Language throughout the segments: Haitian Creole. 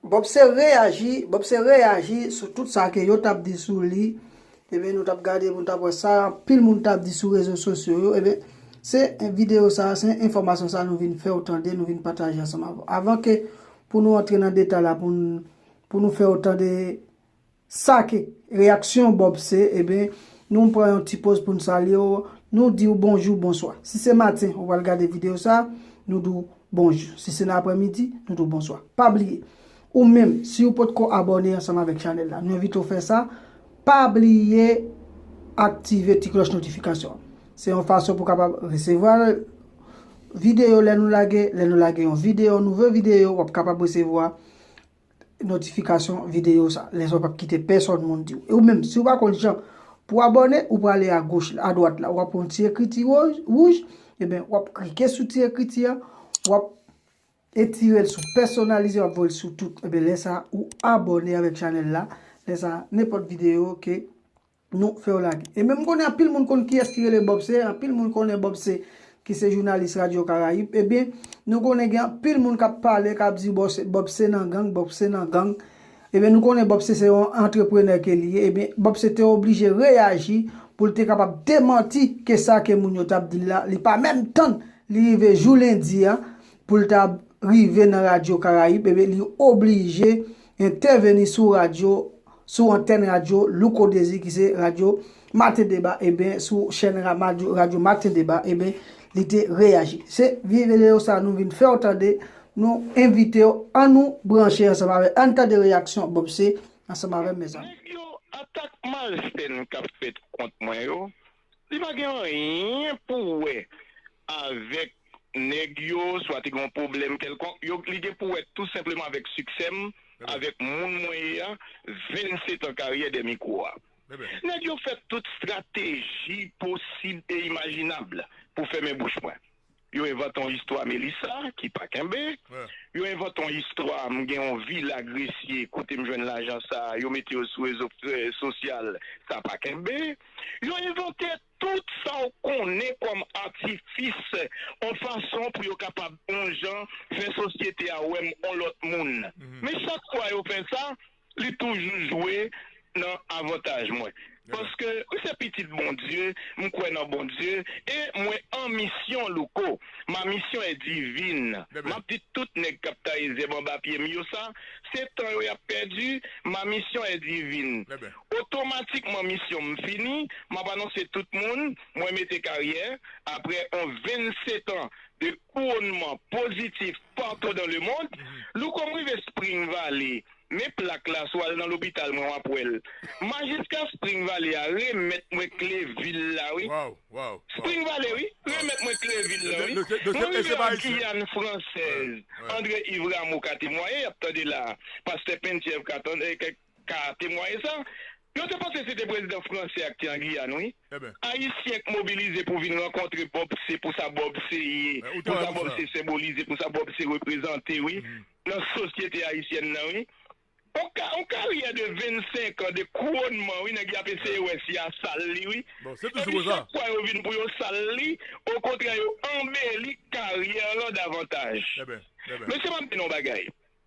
Bob se reyaji, Bob se reyaji sou tout sa ke yo tap di sou li, ebyen nou tap gade pou nou tap wè sa anpil moun tap di sou rezo sosyo yo, ebyen se video sa, se enfòmasyon sa nou vin fèw tande, nou vin pataje ansanm avèw. Avan ke pou nou antre nan detay la pou nou fèw tande Sa ki reyaksyon Bob se, eben, nou pran yon ti poz pou n salye w, nou di w bonjou, bonswa. Si se maten ou pral gade videyo sa a, nou di w bonjou. Si se nan aprèmidi, nou di w bonswa. Pa bliye, ou menm, si ou potko abòne ansanm avèk chanèl la, nou envite w fè sa, pa bliye aktive ti klòch notifikasyon an. Se yon fason pou w kapab resevwa videyo lè nou lage, lè nou lage yon videyo, nouvo videyo, w ap kapab resevwa notifikasyon videyo sa. Lè sa w pap kite pèsòn moun di w. E ou menm, si w pa konn jan pou abòne, ou prale a goch, a dwat la. Ou ap yon ti ekriti wouj, eben w ap klike sou ti ekriti a, w ap etire l sou pèsonalize, w ap voye l sou tout. Eben lè sa, ou abòne avèk chanèl la. Lè sa, nenpòt videyo ke Nou fè yo lage. E menm konnen anpil moun konn kiyès ki rele Bob se, anpil moun konnen Bob se ki se jounalis radyo karayib, ebyen nou konnen gen anpil moun k ap pale, k ap di Bob se nan gang, Bob se nan gang, ebyen nou konnen Bob se se yon antreprenè ke li ye, ebyen Bob se te oblije reyaji pou l te kapab demanti ke sa ke moun yo t ap di l la, li pa menm tann li rive jou lendi a pou l ta rive nan radyo karayib, ebyen li oblije entèveni sou radyo. sou antèn radyo Louko Dezi ki se radyo Maten Deba eben sou chèn radyo Maten Deba eben li te reyaji. Se videyo sa nou vin fèw tande, nou envitew an nou branche ansanm avèl ann tande reyaksyon Bob C ansanm avèm mezanmi. Nèg yo atak malsèn kap fèt kont mwen yo Li pa gen anyen pou wè avèk nèg yo, swa te gen yon pwoblèm kèlkonk. Yo, li gen pou wè tou senpleman avèk siksè m, avèk moun mwen ye a, 27 an karyè dè mikwo a. Nèg yo fè tout strateji posib e imajinab pou fèmen bouch mwen. Yo envante yon istwa Melissa ki pa kenbe. Yo envante yon istwa m gen yon vila Gresye kote m jwenn lajan sa a, yo mete yo sou rezo sosyal, sa pa kenbe. Yo envante tout sa w konnen kòm atifis yon fason pou yo kapab yon jan fè sosyete a wè m yon lòt moun. Men chak fwa yo fè sa, Li toujou jwe nan avantaj mwen paske m se pitit Bondye, m kwè nan Bondye e mwen an misyon Louko, ma mission est divine map di tout nèg kap taye zèb anba pye m yo sa se tan yo yap pèdi ma mission est divine otomatikman misyon m fini map anonse tout moun mwen mete karyè aprè on 27 ans de Kouwonnman pozitif patou dan le mond, louko m rive spring valley men plak la sou al nan lopital mwen wap wèl majiska spring valley a remèt mwen kle vil la wi spring valley wi remèt mwen kle vil la wi mwen rive an guyane française André Yves Rameau ka temwaye yap tande la pastè Penthièvre ka tande. ka temwaye sa. Yo te panse se te prezidan franse a ki te an Giyàn wi. Ayisyen k mobilize pou vin rankontre Bob se pou sa Bob se ye, pou sa Bob se senbolize, pou sa Bob se reprezante wi nan sosyete ayisyèn nan wi. On ka on karyè de 25 an de kouronnman wi nèg y ap eseye wè si y a sal li wi. Epi chak fwa yo vin pou yo sal li, okontrè yo anbeli karyè lan davantaj. Mesye m ap di nou on bagay.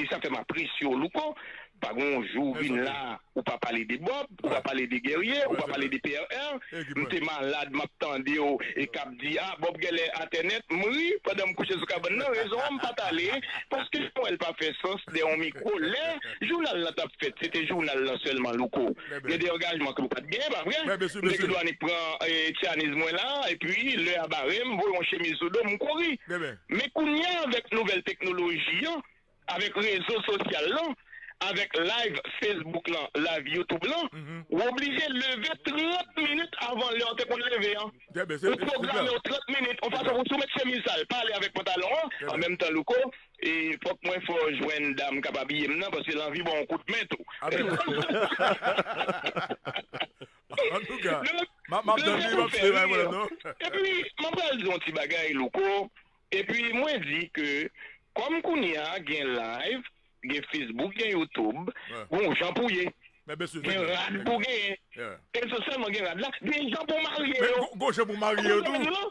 E sa fè m apresye w Louko, pa gen yon jou ou vin la ou pa pale de Bob, ou pa pale de Guerrier, ou pa pale de PRR. M te malad m ap tande w e k ap di a Bob genlè atè nèt, m ri pandan m kouche sou kabann nan, rezon an m pa t ale paske m wè l pa fè sans dèyè yon mikwo. Lè jounal lan t ap fèt se te jounal lan sèlman Louko, gen de angajman ke w pa t gen, pa vre? M te gen dwa annik pran tchaniz mwen la epi lè a bare m voye yon chemiz sou do m, m kouri. Men kounya avèk nouvèl teknoloji an, avèk rezo sosyal lan, avèk live Facebook lan, live YouTube lan, ou oblije leve 30 minit avan lè ou te konn leve an. Ou pwograme w 30 minit, yon fason pou si w met chemiz sal, pa ale avèk pantalon an. An menm tan Louko, e fòk mwen fè w jwenn dam k ap abiye m nan, paske lanvi ba w yon kout men tou. An tou ka, m ap tann li, m ap swiv bagay mwen la non. Epi mwen pral di yon ti bagay Louko, epi mwen di ke kòm kounye a gen live, gen Facebook, gen YouTube, gen yon jan pou ye. Gen rad pou genyen. E non sèlman gen rad la, gen jan pou marye yo. Gen jan pou marye yo tou.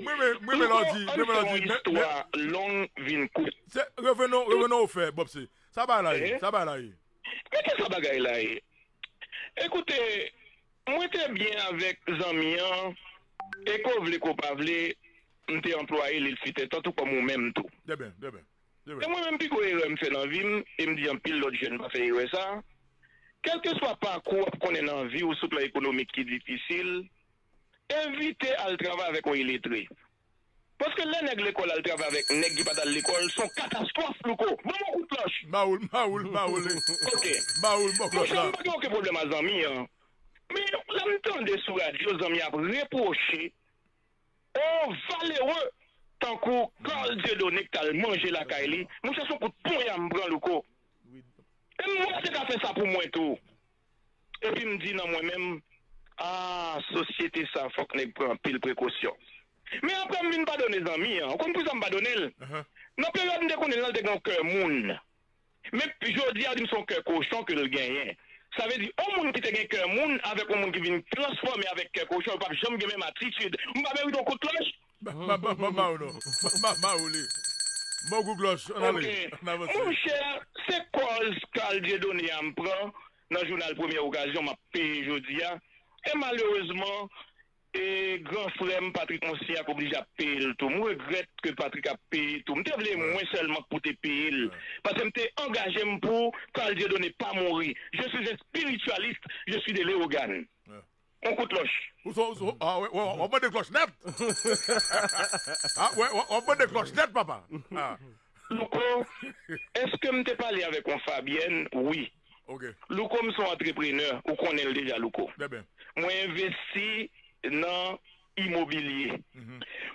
Mwen renmen lè w di, mwen renmen lè w di, men, men. An n fè yon istwa long vin kout. Se, revenons, revenons aux faits, Bob, se, sa bagay la ye, sa bagay la ye. Men ki sa bagay la ye. Ekoute, mwen te byen avèk zanmi an, e ke w vle ke w pa vle, m te anplwaye li, li se te tantou kòm ou menm tou. Trè byen, trè byen. E mwen menm pi gwo erè m fè nan vi m, e m di anpil lòt jèn pa fè erè sa, kèlkeswa pakou w ap konnen nan vi w sou plan ekonomik ki difisil, Evite al travay avèk yon iletre. Paske lè nèg lekòl al travay avèk nèg ki pa t al lekòl, s on katastwòf louko. Ban m yon kout manch! Bawoul, bawoul, bawoul e. Ok. Bawoul bò klòt la. Monchè m pa gen oken pwoblèm a zanmi an. Men lè m tande sou radyo zanmi an ap repwoche on valereu tankou Carl Dieudonne k t al manje lakay li, monchè s on kout ponya m pran louko. E m wè l te ka fè sa pou mwen tou. Epi m di nan mwen menm, Ah sosyete sa fòk nèg pran anpil prekosyon. Men aprè m vin padone zanmi an. Ou konn poukisa m padone l? Nan peryòd m te konnen l lan l te gen yon kè moun. Men jodi a ou di m se yon kè kochon ke l genyen. Sa vle di yon moun ki te gen kè moun avèk yon moun ki vin transfòme avèk kè kochon yo p ap janm gen menm atitid. M pa merite yon kout klòch? Ok monchè se kòz Carl Dieudonné a m pran nan jounal premyè okazyon m ap peye jodi a e malerezman e gran frè m Patrick Monsignat oblije ap peye l tou m regrèt ke Patrick ap peye tou m te vle mwen sèlman k pou te peye l paske m te angaje m pou Carl Dieudonné pa mouri je suis un spiritualiste je suis de Léogâne. On kout klòch. Ou son ou son ah wè wap mande klòch nèt ah wè wap mande klòch nèt papa ah. Louko, Èske m te pale avèk on Fabyèn? Wi. Ok. Louko, M son antreprenè, ou konnen l deja Louko. Byen byen. Mwen envesti nan imobilye.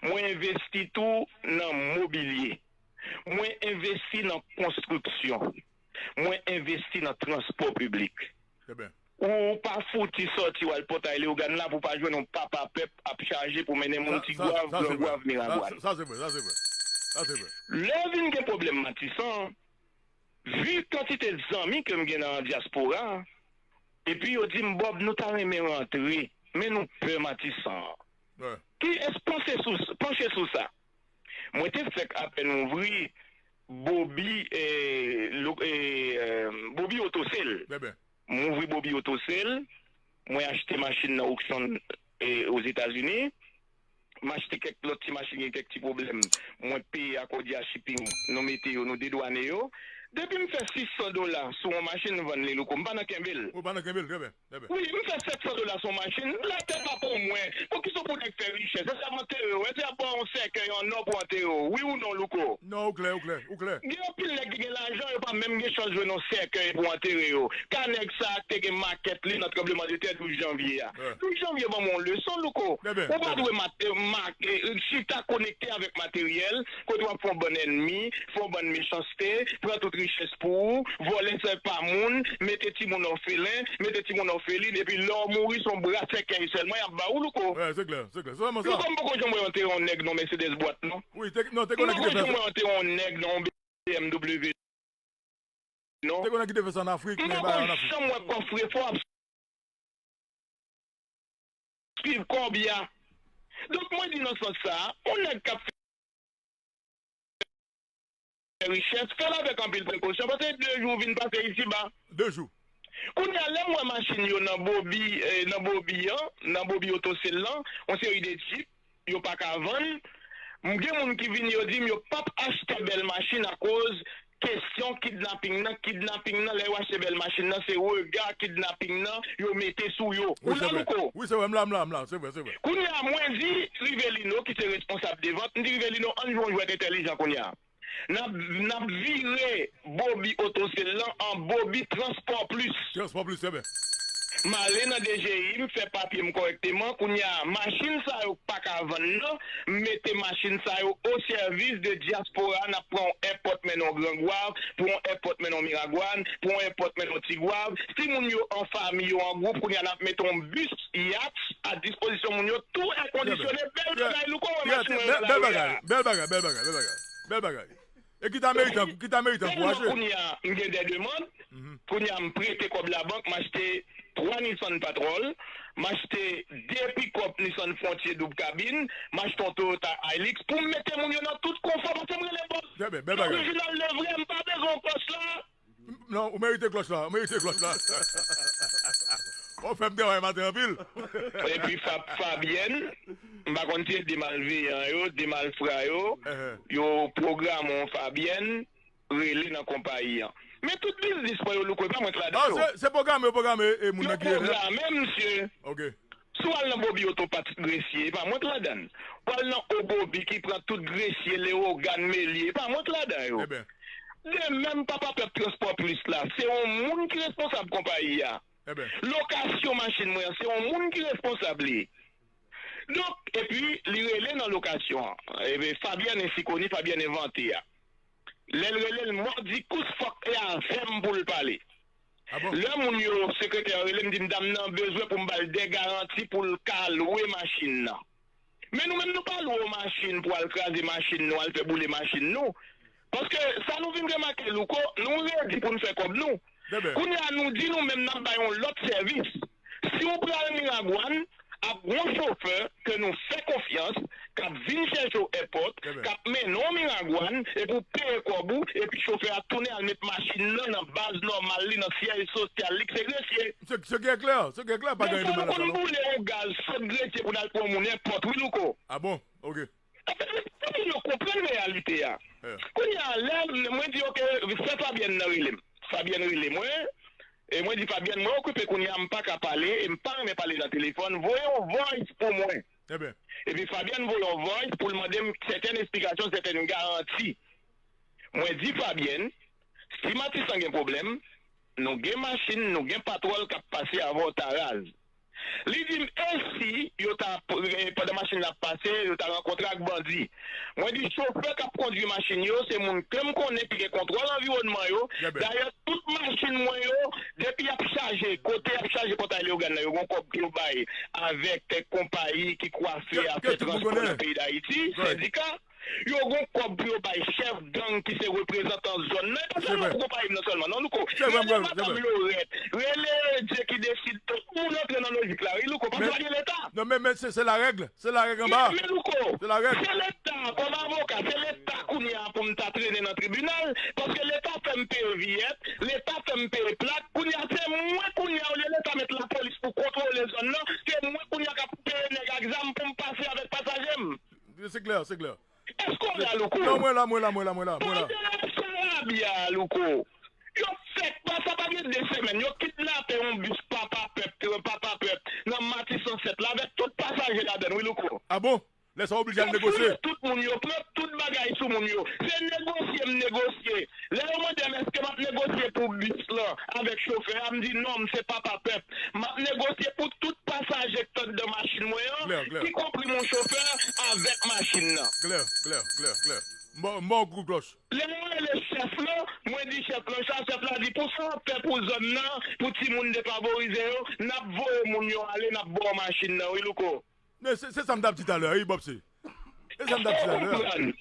Mwen envesti tou nan mobilye. Mwen envesti nan konstriksyon. Mwen envesti nan transpò piblik. Ou pa fouti sòti w al Pòtay Leogàn la pou w pa jwenn yon papa pèp ap chaje pou mennen moun Tigwav, Grangwav, Miragwàn. Lè vin gen pwoblèm Matisan, vi kantite zanmi ke m gen nan dyaspora, epi yo di m, Bòb, nou ta renmen rantre, men nou pè Matisan. Ki es panse sou sa? Mwen te fèk apèn ouvri bobi bobi oto sel m ouvri bobi oto sel mwen achte machin nan okson ozetazini m achte kèk lòt ti machin gen kèk ti pwoblèm mwen peye akòdya shiping nou mete yo nou dedwane yo depi m fè 600 dola sou yon machin m vann li louko m pa nan kenbe l. Wi li fè 700 dola son machin, la tè pa pou mwen, poukisa w konnen fè richès, èske yap antere w, èske yap baw yon sèkèy an nò pou antere w, wi ou non Louko? Non ou klè ou klè ou klè. Gen anpil nèg ki gen lajan yo pa menm gen chans jwenn yon sèkèy pou antere yo, ka nèg sa te gen makèt li nan tranbleman de tè 12 janvye a. 12 janvye banm yon leson Louko, ou pa dwe mate make chita konekte avèk materyèl, Kote wap fon bann ènmi, fon bann mechanste, pran tout richès pou ou, vòlè sè pa moun, mete timoun òfelen, mete timoun òfelin epi lè w mouri son bra sèkèy sèlman yap ba ou Louko. Wè se klè, se klè. Se sèlman sa. Louko m poko janm wè w antere yon nèg nan yon Mercedes bwat non. Wi, te non te gen yon nèg ki te fè sa. M poko janm wè w antere yon nèg nan yon BMW non. Te gen yon nèg ki te fè sa an Afrik men bagay an Afrik. M poko janm wè kòfrefò ap. swiv kòb ya. Donk mwen di nan sans sa, yon nèg kap fè richès, fèl avèk anpil prekosyon paske 2 jou ou vin pase isi ba. 2 jou. Kounya lèm wè machin yo nan bobi nan bobi an, nan bobi oto sel lan, yon seri de jeep, yo pa ka vann, m gen moun ki vini yo dim yo pap achte bèl machin akoz kesyon kidnaping nan, kidnaping nan lè yo achte bèl machin nan se rega kidnaping nan yo mete sou yo ou la Louko? Wi se vre m la m la m la se vre se vre. Kounya mwen di Rivelino ki se responsab de vant m di Rivelino ann jwe yon jwèt entèlijan kounya Nap nap vire bobi otosel lan an bobi transport plus. Transport plus trè byen. M ale nan DGI m fè papye m kòrèkteman kounye a machin sa yo k paka vann nan m mete machin sa yo o sèvis de dyaspora nap pran on èpòt mennen w grangwav pou on èpòt mennen w miragwàn pou on èpòt mennen w tigwav si moun yo an fami yo an gwoup kounye a nap mete on bus Yates a dispozisyon moun yo tou è kondisyone bèl bagay louko wè machin mwen an lari a. Bèl bagay bèl bagay bèl bagay bèl bagay e kit american kou kit american kou achte. Telman kounya m gen de demand kounya m prete kòb labank m achte 3 Nissan Patrol m achte 2 pikòp Nissan Frontier doub kabin m achte yon Toyota Hilux pou m mete moun yo nan tout konfò paske m renmen bòs orijinal le vrè m pa bezwen pòs la. Non ou merite klòch la ou merite klòch la wap fèm travay maten anpil. Epi fap Fabyèn m pa konn si e 2 malveyan yo 2 malfra yo yo pwograme yon Fabyèn rele nan konpayi an men tout biznis mwen yo louko epa mwen k ladan yo. Se pwograme yo pwograme moun nan ki rele a. Yo pwograme misye Si w al nan Bobi Oto pa ti gresye, e pa mwen k ladan l. W al nan O Bobi ki pran tout gresye, Lewogàn, Melye, e pa mwen k ladan yo. De menm papa pèp Transpò Plis la, se yon moun ki responsab konpayi a. Lokasyon machin mwen an, se yon moun ki responsab li. Donk, epi li rele nan lokasyon an, Fabyèn ensi koni, Fabyèn envante a. Lè l rele l, Mòdikous fòk e avè m pou l pale. Lè moun yo, sekretè an rele m di m dam nan bezwen pou m ba l 2 garanti pou l ka lwe machin nan. Men nou menm nou pa lwe w machin pou al kraze machin nou, al fè boule machin nou. Paske sa nou vin remake Louko, nou redi pou n fè kòb nou. Kounye a nou di nou menm n ap bay yon lòt sèvis. Si w pral Miragwàn, ap gen yon chofè ke nou fè konfyans k ap vin chèche w èpòt, k ap mennen w Miragwàn epi w peye kòb ou epi chofè a tounen al met machin nan nan baz nòmal li nan syèj sosyal li k se Gresye. Se gen klè, se gen klè pa gen anyen de mal la sa non. Dèfwa nou konn boule yon gaz sot Gresye pou n al pran moun èpòt wi Louko. A bon? Ok. Eske tout moun yo konprann reyalite a? Kounye a, lè mwen di ok, sè Fabyèn nan rele m. Fabyèn rele mwen, e mwen di Fabyèn mwen okipe kounye a, m pa ka pale, e m pa renmen pale nan telefòn, voye yon voice pou mwen. Epi Fabyèn voye yon voice pou l mande m sèten esplikasyon, sèten garanti. Mwen di Fabyèn, si Matisan gen pwoblèm, nou gen machin, nou gen patwòl k ap pase avè w ta raz. Li di m e si yo ta pandan machin nan ap pase yo ta rankontre ak bandi. Mwen di chofè k ap kondwi machin yo se moun ke m konnen ki gen kontwòl anviwònman yo, dayè tout machin mwen yo depi y ap chaje kote y ap chaje Pòtay Leyogàn nan yo gen yon kòb yo bay avèk konpayi ki kwafe afè transpò nan peyi Dayiti, sendika. Yo gon kòb pou yo bay chèf gang ki se reprezantan zòn nan e pa sèlman pou konpayi m nan sèlman non louko rele madam lorèt rele jekideside tout moun antre nan lojik la wi louko paske pa gen leta men louko se leta kòm avoka se leta kounye a pou m ta trennen nan tribinal paske leta fè m peye viyèt leta fè m peye plak kounye a se mwen kounye a olye leta met lapolis pou kontwole zòn nan se mwen kounye a k ap peye nèg ak zam pou m pase avèk pasaje m Se klè, se klè. Eske w la Louko? Non mwen la, mwen la, mwen la, mwen la, mwen la. Pandan w ap charabya a Louko, yo fèk pa sa pa gen 2 semèn, yo kidnape yon bis papa pèp, tren papa pèp nan Matisan 7 la avèk tout pasaje ladann wi Louko. A bon? Lè sa w oblije al Yo negosye? fouye tout moun, yo pran tout bagay sou moun yo. Se negosye m negosye Lè yo mande m èske m ap negosye pou bis lan avèk chofè a, m di non, m se papa pèp. M ap negosye pou tout pasaje k t anndan machin mwen an, ki konpri mon chofè, avèk machin nan. M ba w kout klòch. Lè yo rele chèf lan, mwen di chèf lan sa, chèf la di pou sa w ap fè pou zòn nan, pou timoun defavorize yo, n ap voye moun yo ale, n ap ba w machin nan wi Louko. Men se sa m t ap di talè a wi Bòpse. Se sa m t ap di talè a. Konprann.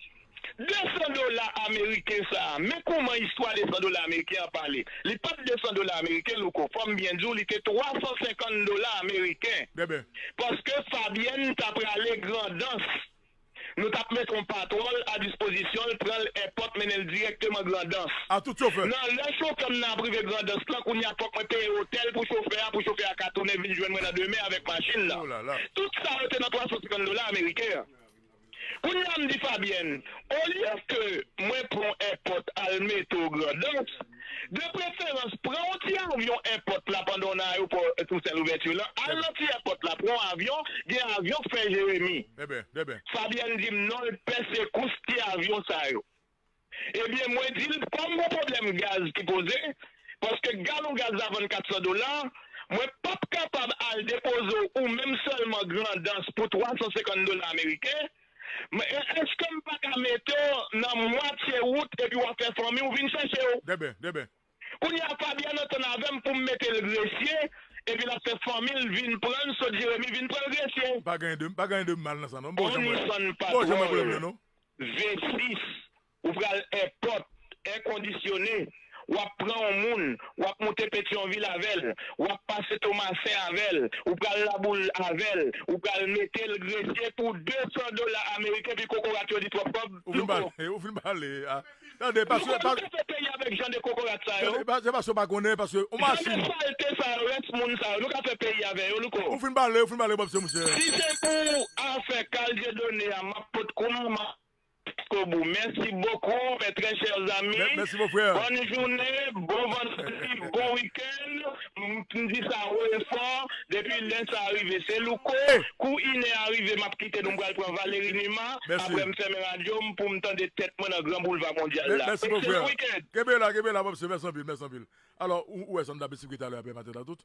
Desan dola ameriken sa a, men kouman istwa desan dola ameriken an pale. Li pa t desan dola ameriken, Louko. Fò m byen di w li te twasansenkann dola ameriken. Bèbè. Paske Fabyèn ta prale Grandans. Nou tap met on patwonl a dispozisyonl pranl èpòt mennenl dirèkteman grandans A tout chofè. Nan lè chofèm nan ap rive grandans lan kounya fòk mwen peye otèl pou chofè a pou chofè a ka tounen vin jwenn mwen nan demen avèk machin nan Oh la la. tout sa yo te nan 350 dola ameriken an kounya mdi Fabyèn olye ke mwen pran on èpòt al mete w grandans De preferans, pran yon ti avyon èpòt la pandan w nan ayopò Toussaint Louverture lan, al nan ti èpòt la, pran yon avyon, gen avyon k fè Jeremi. Fabyèn di m non l pè sekous ti avyon sa yo. Ebyen mwen di l kòm gon pwoblèm gaz ki poze, paske galon gaz la vann 400 dola, mwen p ap kapab al depoze w ou menm sèlman Grandans pou 350 dola ameriken, M eske m pa ka mete w nan mwatye wout epi w ap fè fanmi w vin chèche w? Bèbè, bèbè. Kounye a Fabian antann avè m pou m mete l Gresye epi l ap fè fanmi l vin pran l sot Jeremi vin pran l Gresye. Pa gen anyen de mal nan sa non. Bon jan m wè l nan non. Vesi. Ou pral èpòt, è kondisyone, w ap pran yon moun, w ap moute Petyonvil avè l, w ap pase Tomasen avè l, ou pral Laboul avè l, ou pral mete l gresye pou 200 dola ameriken pi kokorat yo di twòp kòb, nou ko. Ou fin pale a. Tande, paske. Nou konn pete peyi a avèk jan de kokorat sa yo. Tande, se paske w pa konnen, paske yon machin. Jan de salte sa yo, rès moun sa yo, nou ka fè peyi avè yo, nou ko. Ou fin pale, ou fin pale, bon se mouche. Si se pou afè Carl Dieudonné a, m ap pot kou m, m ap. Koubou mèsi bokou mes très chers amis Merci mon frère. bòn joune bon vandredi bon weekend mdi sa wo e fò depi lè sa rive se louko kou inè a rive map kite nou mpral pran Valery Numa Merci. aprè mfèmen radio m poum tande tèt mwen nan gran boulva mondyal la Merci mon excellent frère. weekend. Kenbe la, kenbe la mon msye. Mèsi anpil, mèsi anpil. Alò, ou wè sa m t ap esplike talè a pè Maten a tout?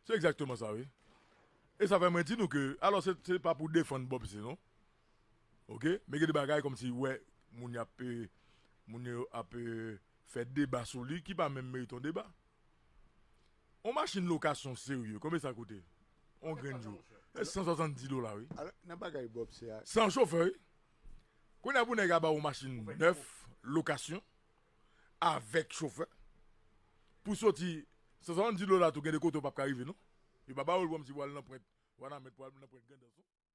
Se egzakteman sa wi. E sa fè mwen di nou ke alò se pa pou defann Bob se non. ok men gen de bagay kòmsi wè moun yo ap moun yo ap fè deba sou li ki pa menm merite yon deba yon machin lokasyon serye konbyen sa koute yon grenn jou se 170 dola wi san chofè wi kounye a pou nèg a ba ou yon machin nèf lokasyon avèk chofè pou soti 170 dola tou gen de kote ou pap ka rive non yo pa ba ou l kòmsi pou al nan pwent wanament pou al nan pwent grandans non.